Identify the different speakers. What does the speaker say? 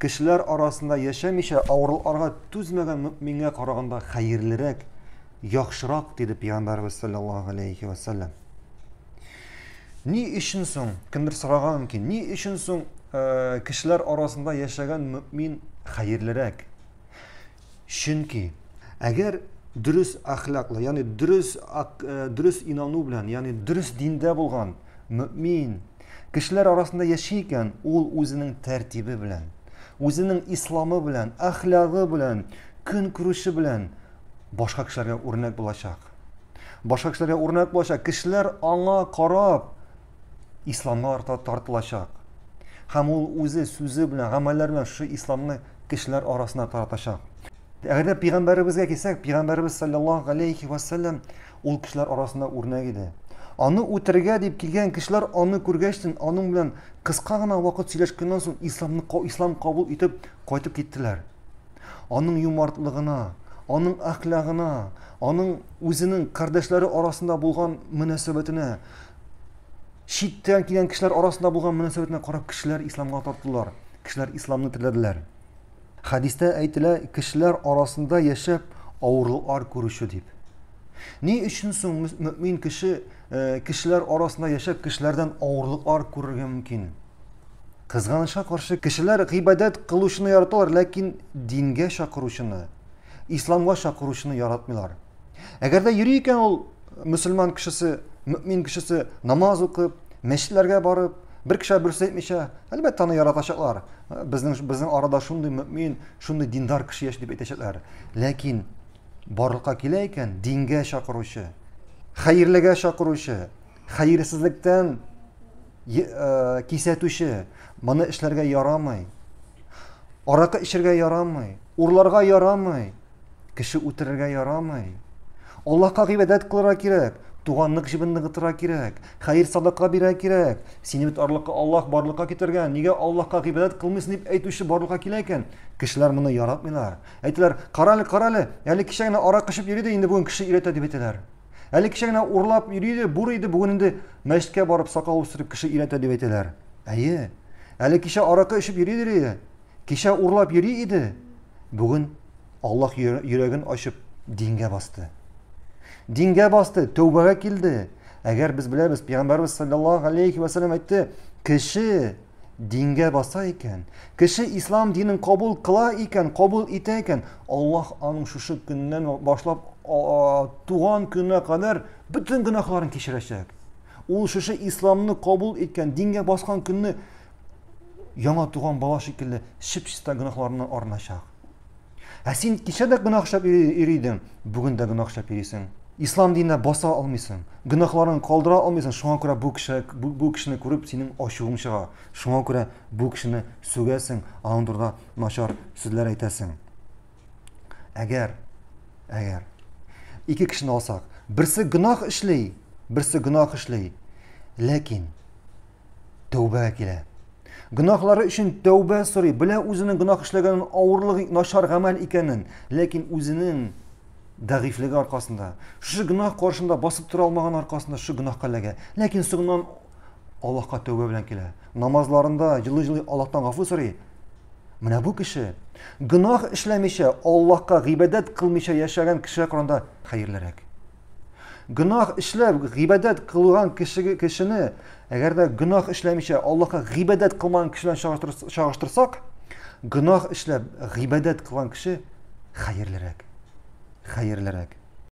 Speaker 1: Кешеләр арасында яшәмичә авыруларга түзмәгән мөэмингә караганда хәерлерәк, яхшырак, диде пәйгамбәребез саллаллаһу галәйһи вә сәлләм. Ни өчен соң, кемдер сораган мөмкин, ни өчен соң э, кешеләр арасында яшәгән мөэмин хәерлерәк? Чөнки, әгәр дөрес әхлаклы, ягъни дөрес э, дөрес инану белән, ягъни дөрес диндә булган мөмин кешеләр арасында яши икән, ул үзенең тәртибе белән, үзенең исламы белән, әхлагы белән, көн күрүше белән башка кешеләргә үрнәк булачак. Башка кешеләргә үрнәк булачак. Кешеләр аңа карап, исламга арта тартылачак. Һәм ул үзе сүзе белән, гамәлләр белән шушы исламны кешеләр арасына таратачак. Әгәр дә пигамбәребезгә килсәк, пигамбәребез саллаллаһу алейхи ва саллям ул кешеләр арасында үрнәк иде. Аны үтергә дип килгән кешеләр аны күргәчтен, аның белән кыска гына вакыт сөйләшкәннән соң исламны ислам кабул итеп кайтып киттеләр. Аның юмартлыгына, аның әхлагына, аның үзенең кардәшләре арасында булган мөнәсәбәтенә читтән килгән кешеләр арасында булган мөнәсәбәтенә карап кешеләр исламга тартылдылар кешеләр исламны теләделәр хәдистә әйтелә кешеләр арасында яшәп авырлыклар күрүче дип ни өчен соң мөмин кеше э, кешеләр арасында яшәп кешеләрдән авырлыклар күрергә мөмкин кызганычка каршы кешеләр гыйбадәт кылучыны яраталар ләкин дингә чакыручыны исламга чакыручыны яратмыйлар Әгәр дә йөри икән ул мөселман кешесе, мөмин кешесе намаз укып, мәчетләргә барып, бер кеше бер сүз әйтмичә, әлбәттә аны яратачаклар. Безнең безнең арада шундый мөмин, шундый диндар кеше яши дип әйтәчәкләр. Ләкин барлыкка килә икән дингә чакыручы, хәерлегә чакыручы, хәерсезлектән э, кисәтүче, моны эшләргә ярамый. Аракы эчәргә ярамый, урларга ярамый. Кеше үтерергә ярамый. Аллаһка гыйбадәт кылырга кирәк, туганлык җебен ныгытырга кирәк, хәер садака бирә кирәк. Сине бит арлыкка Аллаһ барлыкка китергән. Нигә Аллаһка гыйбадәт кылмыйсың дип әйтүче барлыкка килә икән? Кешеләр моны яратмыйлар. Әйтәләр, карале, карале, әле кичә генә арак эчеп йөри дә инде бүген кеше өйрәтә дип әйтәләр. Әле кичә генә урлап йөри иде, бур иде, бүген инде мәчеткә барып сакал үстереп кеше өйрәтә дип әйтәләр. Әйе. Әле кичә аракы эчеп йөри иде. Кичә урлап йөри иде, бүген Аллаһ йөрәген ачып дингә басты. Дингә басты, тәүбәгә килде. Әгәр без беләбез, пәйгамбәрбез саллаллаһу алейхи ва саллям әйтте, кеше дингә баса икән, кеше ислам динен кабул кыла икән, кабул итә икән, Аллаһ аның шушы көннән башлап туган көненә кадәр бөтен гөнаһларын кичерәчәк. Ул шушы исламны кабул иткән, дингә баскан көнне яңа туган бала шикелле чып-чиста гөнаһларыннан арыначак. Ә син кичә дә гөнаһ эшләп йөри идең, бүген дә гөнаһ эшләп йөрисең. Ислам диненә баса алмыйсың, гөнаһларын калдыра алмыйсың, шуңа күрә бу кеше бу, бу кешене күреп синең ачуың чыга. Шуңа күрә бу кешене сүгәсең, аның турында начар сүзләр әйтәсең. Әгәр әгәр ике кешене алсак, берсе гөнаһ эшли, берсе гөнаһ эшли. Ләкин тәүбәгә килә. Гөнаһлары өчен тәүбә сорый, белә үзенең гөнаһ эшләгәнен, авырлыгы, начар гамәл икәнен, ләкин үзенең дәгыйфлеге аркасында, шушы гөнаһ каршында басып тора алмаган аркасында шушы гөнаһка эләгә. Ләкин соңыннан Аллаһка тәүбә белән килә. Намазларында җылы-җылы Аллаһтан гафу сорый. Менә бу кеше гөнаһ эшләмичә, Аллаһка гыйбадәт кылмыйча яшәгән кешегә караганда хәерлерәк. Гөнаһ эшләп, гыйбадәт кылган кешеге кешене, әгәр дә гөнаһ эшләмичә Аллаһка гыйбадәт кылмаган кеше белән чагыштырсак, гөнаһ эшләп, гыйбадәт кылган кеше хәерлерәк. Хәерлерәк.